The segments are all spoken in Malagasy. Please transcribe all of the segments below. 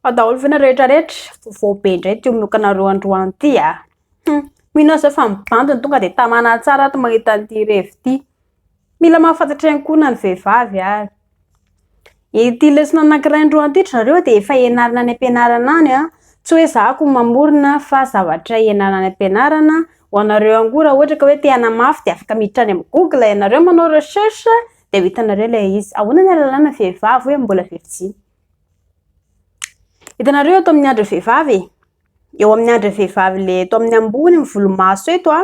Ao daholo ve nareo rehetra rehetra? Vaovao be indray ity omonokanareo androany ity a. Ah. Hmm. Mino aho zao fa mibandy ny tonga dia tamana tsara ato mahita an'ity revy ity. Mila mahafantatra ihany koa na ny vehivavy ary. Ity lesona anankiray androany ity nareo dia efa ianarana any am-pianarana any a. Ah. Tsy hoe zahako mamorona fa zavatra ianarana any am-pianarana. Ho anareo ihany koa raha ohatra ka hoe te hanamafy dia afaka miditra any amin'ny Google ianareo manao recherche dia ho hitanareo ilay izy. Ahoana ny alalana vehivavy hoe mbola virjiny? Hitanareo eto amin'ny andry vehivavy e. Eo amin'ny andry vehivavy le eto amin'ny ambony ny volomaso eto a.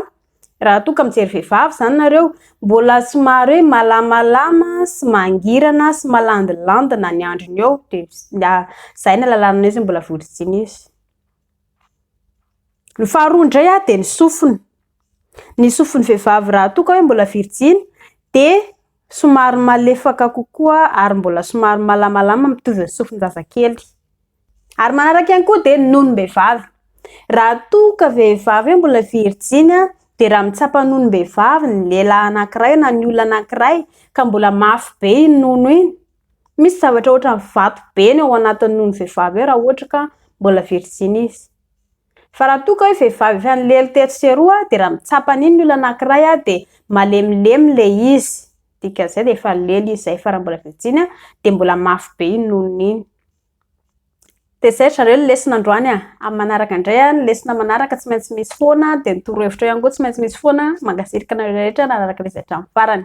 Raha toa ka mijery vehivavy izany nareo, mbola somary hoe malamalama sy mangirana sy malandilandina ny andriny eo. Dia izay ny alalana an'izy mbola volo sy dimy izy. Ny faharoa indray ah dia ny sofina. Ny sofin'ny vehivavy raha toa ka hoe mbola virjiny dia somary malefaka kokoa ary mbola somary malamalama mitovy amin'ny sofin-jazakely. Ary manaraka ihany koa dia ny nonom-behivavy. Raha toa ka vehivavy hoe mbola virjiny ah dia raha mitsapa nonom-behivavy ny lehilahy anankiray na ny olona anankiray ka mbola mafy be iny nono iny Misy zavatra ohatran'ny vato be ny ao anatin'ny nono vehivavy eo raha ohatra ka mbola virjiny izy. Fa raha toa ka hoe vehivavy efa nilely tetsy sy eroa dia raha mitsapa an'iny ny olona anankiray dia malemilemy ilay izy, dikan'izay dia efa nilely izy izay fa raha mbola virjiny dia mbola mafy be iny nonony iny. Dia izay ry zareo ny lesona androany a! Amin'ny manaraka indray a, ny lesona manaraka tsy maintsy misy foana dia ny torohevitra ihany koa tsy maintsy misy foana. Mankasiraka anareo rehetra nanaraka lesy hatramin'ny farany.